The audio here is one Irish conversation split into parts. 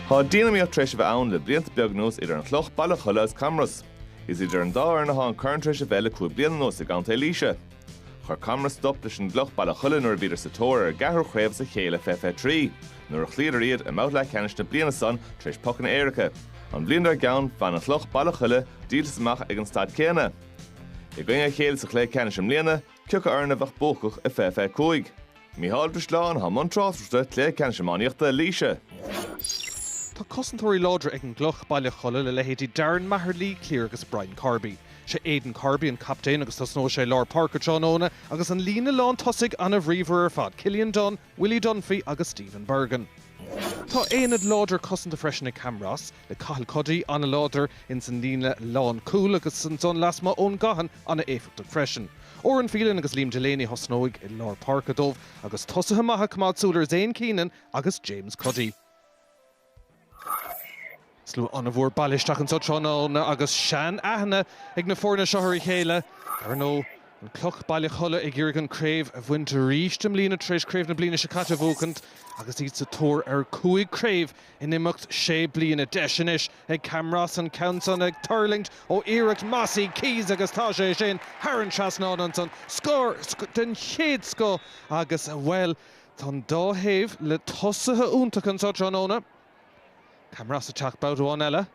Tá dian-iomaíocht tar éis a bheith ann le blianta beag anuas idir an Chloch Baile Cholla is Camros. Is idir an dá fhoireann atá an corn tar éis a bheith le cúig bliana anuas i gContae Laoise. Chuir Camros stop leis an gCloch Baile Cholla nuair a bhíodar sa tóir ar an gceathrú chraobh as a chéile fiche fiche trí nuair a chloíodar iad i mBabhta Leathcheannais na bliana san tar éis pocanna éirice. An bhliain dár gceann, bhain an Chloch Baile Cholla díoltas amach ag an staid chéanna. I gcoinne a chéile sa chluiche ceannais i mbliana, Cioca foireann a bheadh buacach i fiche fiche cúig? Mícheál Ó Drisleáin thá i mbun tráchtaireachta cluiche ceannais iománaíochta Laoise. Tá cosantóirí láidre ag an gCloch, Baile Cholla le leithéidí Darren Maher, Lee Cleere agus Brian Corby. Sé Aidan Corby an captaen agus tosnóidh sé i lár páirce tráthnóna agus an líne lán tosaigh an-bhríomhar ar fad, Cillian Dunne, Willie Dunphy agus Stephen Bergin. Tá aonad láidir cosanta freisin ag Camros, le Cathal Cuddy an-láidir ins an líne lánchúil agus ansan lasmuigh Eoin Gaughan an-éifeachtach freisin. Odhran Phelan agus Liam Delaney a thosnóidh i lár páirce dóibh agus tosaithe maithe ag coimeád súil ar Zane Keenan agus James Cuddy. Slua an-mhór bailithe isteach anseo tráthnóna agus sean-aithne ag na foirne seo ar a chéile. Dar ndóigh, an Cloch, Baile Cholla ag iarraidh an chraobh a bhaint arís i mbliana tar éis craobh na bliana seo caite a bhuachaint agus iad sa tóir ar 5 chraobh In imeacht sé bliana deis anois ag Camros an ceann san ag tuirlingt ó iarracht Mossy Keyes agus tá sé sin thar an trasnán ansan, scór den chéad scoth agus, bhuel, tá an dá thaobh le tosaithe iontacha anseo tráthnóna. Camros ag teacht babhta amháin eile.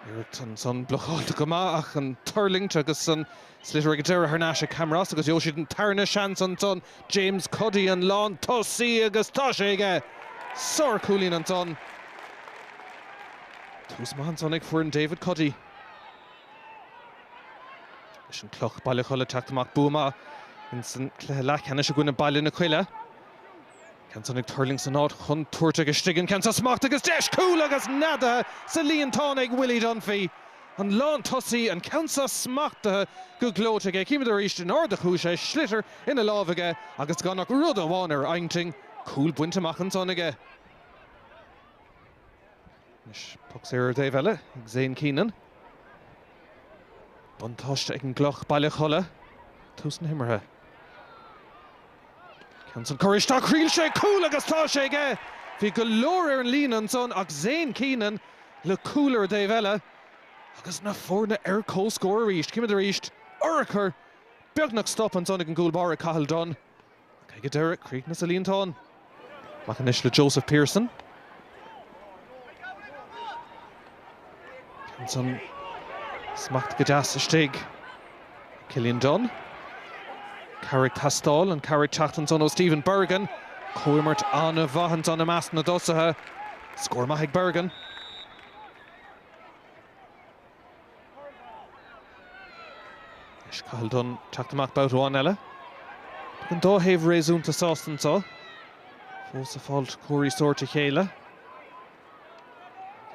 Iarracht ansan blocáilte go maith ach an tuirlingt agus an sliotar ag deireadh thar n-ais ag Camros agus gheobhaidh siad an tarna seans ansan. James Cuddy an lántosaí agus tá sé aige! Sárchúilín ansan. Tús maith ansan ag foireann David Cuddy. Leis an Cloch, Baile Cholla ag teacht amach bua maith insan cluiche leathcheannais i gcoinne Baile na Coille. Ceann san ag tuirlingt san áit chontúirteach istigh, an ceann san smachtaithe agus deis cúl agus neadaithe sa líontán ag Willie Dunphy, an lántosaí, an ceann san smachtaithe go gleoite aige, címid arís in airde a chuaigh sé, sliotar ina lámh aige agus gan ach rud amháin ar intinn, cúl bainte amach ansan aige. Anois poc saor ar an dtaobh eile ag Zane Keenan. Buntáiste ag an gCloch, Baile Cholla, tús na himeartha. Ceann san curtha isteach, thriail sé cúl agus tá sé aige! Bhí go leor ar an líne ansan ach Zane Keenan le cúl ar an dtaobh eile agus na foirne ar comhscór arís. Címid arís urchar, beagnach stop ansan ag an gcúl báire Cathal Dunne. Ach ag an deireadh, críochnaíonn sa líontán. Amach anois le Joseph Pearson. Ansan smacht go deas istigh. Cillian Dunne. Cabhair ag teastáil, an chabhair ag teacht ansan ó Stephen Bergin. Comhimirt an-mhaith ansan i measc na dtosaithe. Scór maith ag Bergin. Anois Cathal Dunne teacht amach babhta amháin eile. Beidh an dá thaobh réasúnta sásta anseo. Fós ag fáilt cóirí sóirt a chéile.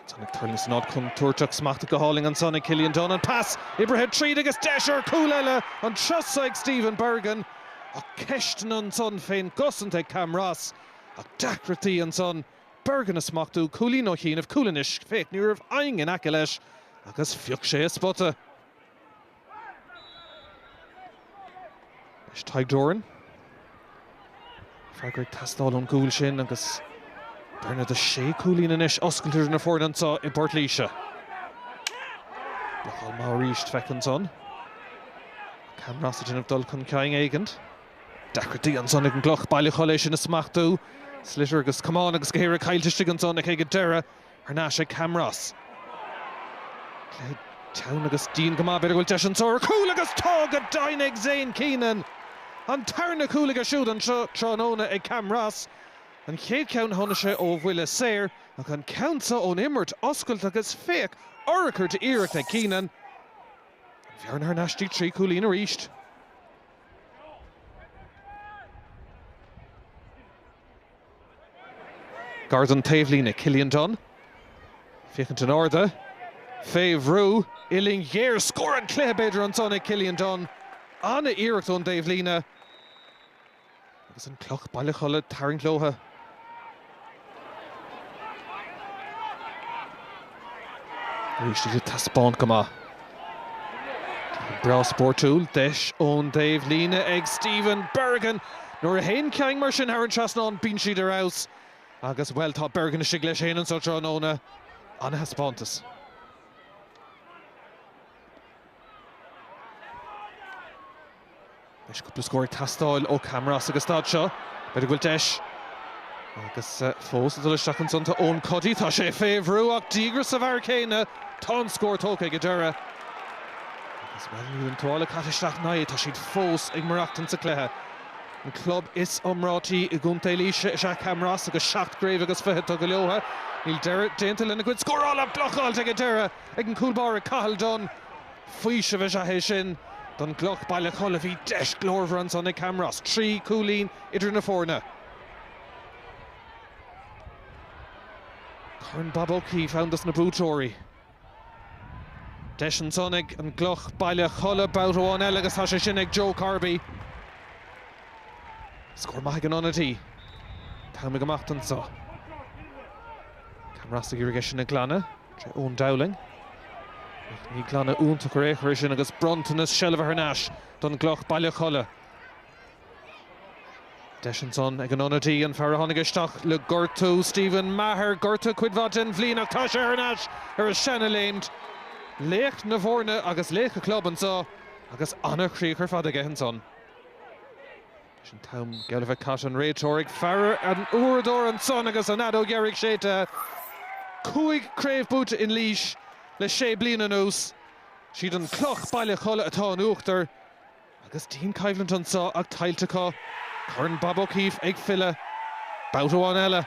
Ansan ag tuirlingt san áit contúirteach smacht go hálainn ansan ag Cillian Dunne. An pas oibrithe tríd agus deis ar chúl eile an turas so ag Stephen Bergin. Ach ceisteanna ansan fén gcosaint ag Camross. Ach deacrachtaí ansan. Bergin á smachtú, cúilín ó chianaibh, cúl anois, féach, ní raibh éinne in aice leis agus phioc sé a spota. Anois Tadhg Doran. Freagra ag teastáil ón gcúl sin agus bearna de shé chúilín anois oscailte idir na foirne anseo i bPort Laoise. Blocáil maith arís, féach ansan. Camross ag déanamh dul chun cinn éigint. Deacrachtaí ansan ag an gCloch Baile Cholla é sin a smachtú. Sliotar agus camán agus gach aon rud caillte istigh ansan ag ag an deireadh. Thar n-ais ag Camros. Cluiche teann agus dian go maith. B'fhéidir go bhfuil deis anso ar chúl agus tá go deimhin ag Zane Keenan! An tarna cúl aige siúd anseo tráthnóna ag Camros. An chéad cheann tháinig sé ó bhuille saor ach an ceann so ón imirt oscailte agus féach urchar d'iarracht ag Keenan. An bhearna thar n-ais dtí trí chúilín arís. Gar don taobhlíne, Cillian Dunne. Féachaint in airde. Fé bhrú. Uillinn ghéar. Scór an chluiche, b'fhéidir, ansan ag Cillian Dunne. An-iarracht ón dtaobhlíne. Agus an Cloch Baile Cholla ag tarraingt leotha. Arís iad ag taispeáint go maith. Cluiche breá spórtúil. Deis ón dtaobhlíne ag Stephen Bergin. Nuair a théann cinn mar sin thar an trasnán bíonn siad ar fheabhas. Agus, bhuel, tá Bergin istigh leis féin anseo tráthnóna. An-thaispeántas. Beidh cúpla scór ag teastáil ó Camross ag an staid seo. B'fhéidir go bhfuil deis agus fós ag dul isteach ansan. Tá Eoin Cuddy, tá sé fé bhrú ach díograis sa bhfear céanna. Tá an scór tógtha ag an deireadh. Agus bhuel níl an tuáille caite isteach ná é, tá siad fós ag maireachtaint sa cluiche. An club is iomráití i gContae Laoise is ea Camross agus seacht gcraobh agus fiche tugtha leotha. Níl deireadh déanta lena gcuid scórála ach blocáilte ag an deireadh ag an cúl báire Cathal Dunne. Faoiseamh is ea é sin don gCloch, Baile Cholla. Bhí deis glórmhar ansan ag Camros, trí chúilín idir na foirne. Corn Bob O'Keefe ann dos na buaiteoirí. Deis ansan ag an gCloch, Baile Cholla babhta amháin eile agus tá sé sin ag Joe Corby. Scór maith ag an ionadaí. Tamall amach anso. Camros ag iarraidh é sin a ghlanadh. Sé Eoin Dowling, ach ní glanadh iontach ar aon chor é sin agus bronntanas seilbhe thar n-ais don gCloch, Baile Cholla. Deis ansan ag an ionadaí, an fear a tháinig isteach le gortú, Stephen Maher, gortaithe cuid mhaith den bhliain ach tá sé thar n-ais ar a sheana-léim. Laoch na bhfoirne agus laoch a chlub anso agus an-chríoch ar fad aige ansan. Leis an t-am geall le bheith caite an réiteoir ag faire ar an uaireadóir ansan agus an fheadóg dheiridh séidte, cúig craobh buaite in Laois le sé bliana anuas, siad an Cloch, Baile Cholla atá in uachtar agus dianchoimhlint anso ach tuillte acu, Corn Bob O'Keefe ag filleadh, babhta amháin eile.